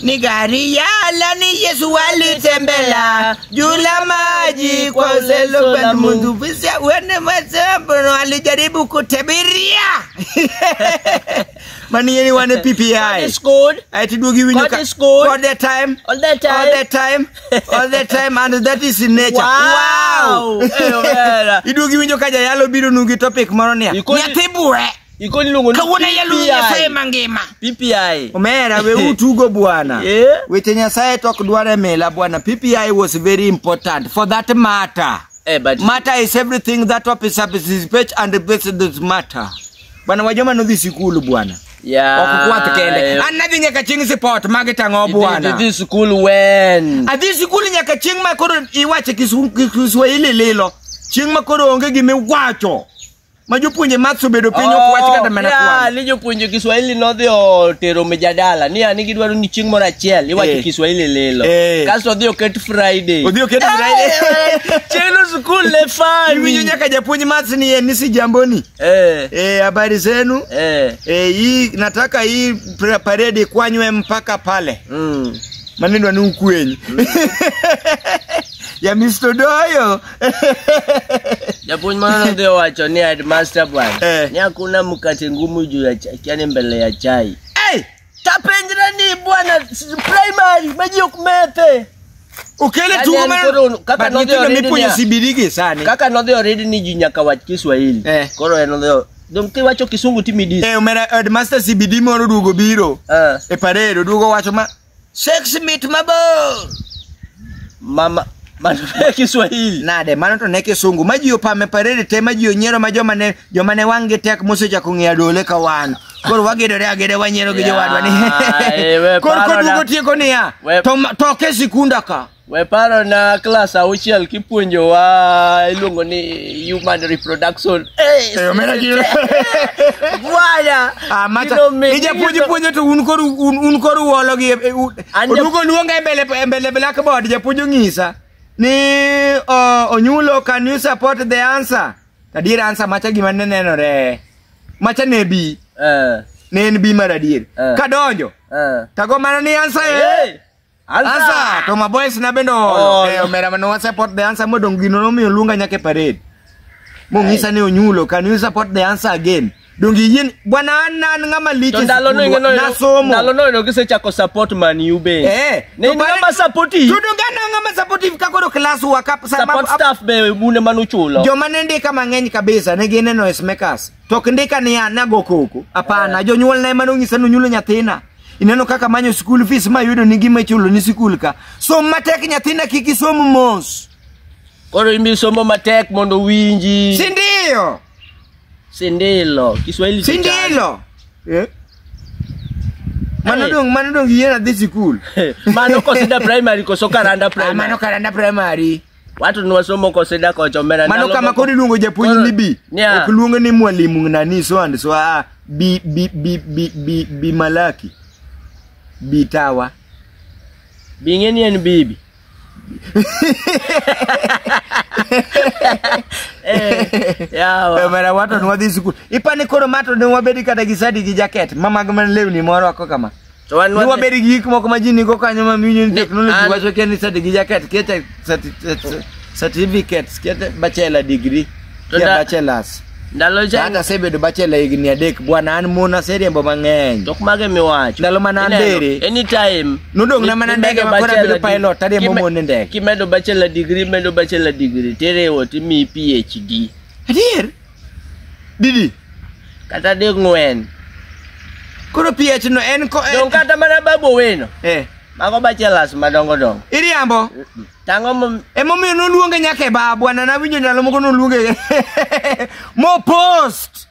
Ni gari ya lani Yesu walitembela juu la maji kwa uwezo wa Mungu. Bisa uende masambo alijaribu kutabiria. Mani yeni wane God PPI. is good Ati dugi winyo God ka. is good. All the time. all the time. All the time. All the time and that is in nature. Wow. Eyo vera. Idugi winyo ka jayalo biro nugi topic moro niya. Ikoni- Nyathi buwe. Iko niluongo ni Kawuono yalo PPI. Nyasaye mangima. PPI. Omera we utugo bwana. Yeah. Weche Nyasaye tok dware mela bwana. PPI was very important for that matter. Eh, but Matter is everything that officer participate and replace this matter. Bwana wajoma nodhi sikulu bwana. yeah. Okukwath kende. An nadhi nyaka chieng' support magi tang'o Did- bwana. did this school when? Adhi sikul nyaka chieng' ma koro iwache kisu- kiswahili lilo. Chieng' ma koro onge gima iwacho. ma jopuonje maths obedo piny ok wach kata mana Oh, kwan ni jopuonje kiswahili nodhi otero mijadala ni ani gidwaro ni chieng' moro achiel iwacho Eh. kiswahili lilo Eh. kasto odhi oket friday odhi oketo Friday. chieng'no skul ne fani iwinjo nyaka japuonj maths ni en ni si jamboni Eh, eh, habari zenu eh, eh, hii nataka hii pra- paredi ikwanywe mpaka pale mm. maneno ni ukwenyi ya Mr. Doyo. Japuonj mano nodhi owacho ni headmaster bwana Eh. ni hakuna mkate ngumu juu ya chai, yani mbele ya chai. Hey, tapenjre ni bwana s- primary maji ok methe. Ukele Yaani tugo yani mara koro kaka but nodhi nyithindo oridi mipuonjo niya. sibirigi sani. Kaka nodhi oridi ni ji nyaka wach Kiswahili. Eh. Koro en nodhi o- dong kiwacho kisungu timidis. Eh, omera headmaster CBD moro duogo biro Ah. e parade oduogo wacho ma Sex mit mabor. Mama mano e Kiswahili. Nade mano to ne kisungu ma ji opame parede te ma ji onyiero ma joma ne joma ne wang' gi tek mosechako ng'eyo dole ka wan. Koro wagedore agede wanyiero gi jowadwa ni. Yaye, we Koro paro koduogo na- tieko niya. We- to ma- to ke sikunda ka. We paro na klas auchiel kipuonjowa iluongo ni human reproduction. Hey, Eh, omera gi- Bwana. Ah, macha. kilo mi- Ija puonje kilo- puonje to un koro un, un koro uolo gi e- e- u- An ja- odugo luonga e mbele e mbele blackboard japuonj ong'isa ni uh, onyulo can you support the answer adier answer macha gima ne nenore macha ne bi Eh, ne en bi mar adier Eh. kadonjo eh. tago mana ni answer eh. Hey. Ansa to maboys na bendo oh, eh, omera mano wa support the answer modong gino no mi olunga nyake parade. Mo ngisa ni onyulo can you support the answer again? Dongi yin bwana anna nga maliche. To ndalo no ngeno na somo. Ndalo no ngeno kise chako support man you be. Eh, ne ni nga support. Tu donga na nga support ka koro class wa kap support staff be mune manuchulo. Jo manende kama ngeny kabisa ne gine no smakers. To ok ndika ni an nago koko. Hapana, jonyuolna ema nonyisa ni onyulo nyathina. Ineno kaka manyo school fees ma yudo ni gima ichulo ni sikul ka. Som matek nyathina kik isom mos. Koro imbi somo matek mondo winji. Si ndio? Sindilo. Kiswahili Si kichana. ndilo? Eh? Mano Hey. dong, mano dong yena dhi sikul. Mano kosida primary koso karanda Ah, primary. mano karanda primary. Watu ni wasomo kwa sida kwa chomera. Mano kama kodi luongo japuonj Koro- ni bi. Nya. Ok luongo ni mwalimu nani so and so ah bi bi bi bi bi, bi malaki. Bi tawa. Bingeni en bibi. eh, Eh, yawa. mara wato nwadhi sikul. Ipani koro mato ne wabedi kata gi sadi gi jaket. Mama gman lewni moro ako kama. To wan Ni wabed gi gik moko ma ji nigo kanyo ma miyo ni Ni technology an- wacho kia ni sati gi jaket kia te- sati- sati- certificates kia te bachelor degree To kia da- bachelors. ndalo cha Hata asebedo bachelor higni adek bwana an mon aseriembo mang'eny. tok mage miwacho. Ndalo mana Ineno, ndiri. Anytime. Nodong' na mana ndege ma koro abedo pilot, ariembo mon e ndege. Kimedo bachelor degree, medo bachelor degree, tiriwo timiyi PhD. Adier? didi kata ding'wen koro ph no en ko dong kata mana babu owino eh mago bachelas madongo dongo iriambo tang'o mom- emomiyo noluonge nyaka e baa bwana nawinjo ndalo moko noluonge mopost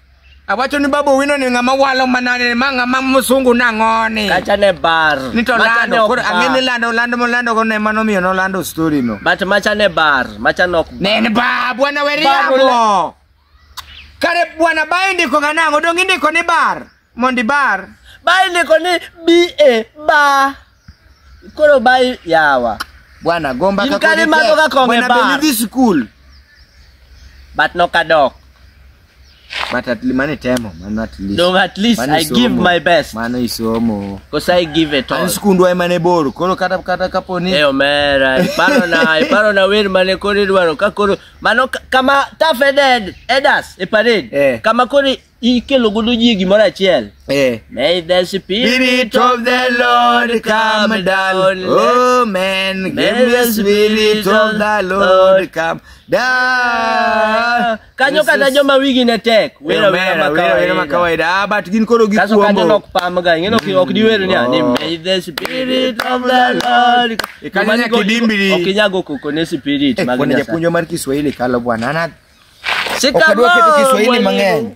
awacho ni baba owino ni ng'ama walo manane ma ng'ama msungu nang'oni kacha ne bar ni to Macha ne lando ok koro ang'e ni bar. lando lando molando go ne mano miyo nolando story no but macha ne bar Macha nok. Nen ba bwana Ba, weriambo. bwana- Kare bwana ba indiko ga nang'o dong indiko ni bar mondi bar. Bai ndiko ni BA ba. Koro bai yawa. Bwana gomba In kaka kare madho ga kong'e Bwana be bar. nidhi skul. But nok adok. but at least mane temo mano at least Dong at least Mano I isomo. give my best. mano isomo Cause I give it all. an skundwa ema ne bor koro kata kata kapo ni Eh omera, iparo na, iparo na wer mane koro idwaro ka koro mano ka- kama tough headed elders e parade. Eh. Kama koro ikelo godo ji gimoro achiel. eh May the spirit Spirit of the Lord come down. Oh man, give the spirit of the Lord come down. Kanyo kata joma wigi ne tek. Wera wera ma wera ma kawaida. kawaida. Ah, but gin koro gi Kaso kanyo kuombo. nok pamga, ing'e nok ok diwer ni ani Oh. may the spirit of the Lord. E kanyo nyaka idimbiri. Ok inyago koko ne spirit Eh, mag bwana Nyasaye. japuonjo mar Kiswahili kalo bwana. Ana Shikamoo, ok adwa keto Kiswahili mwalimu. mang'eny.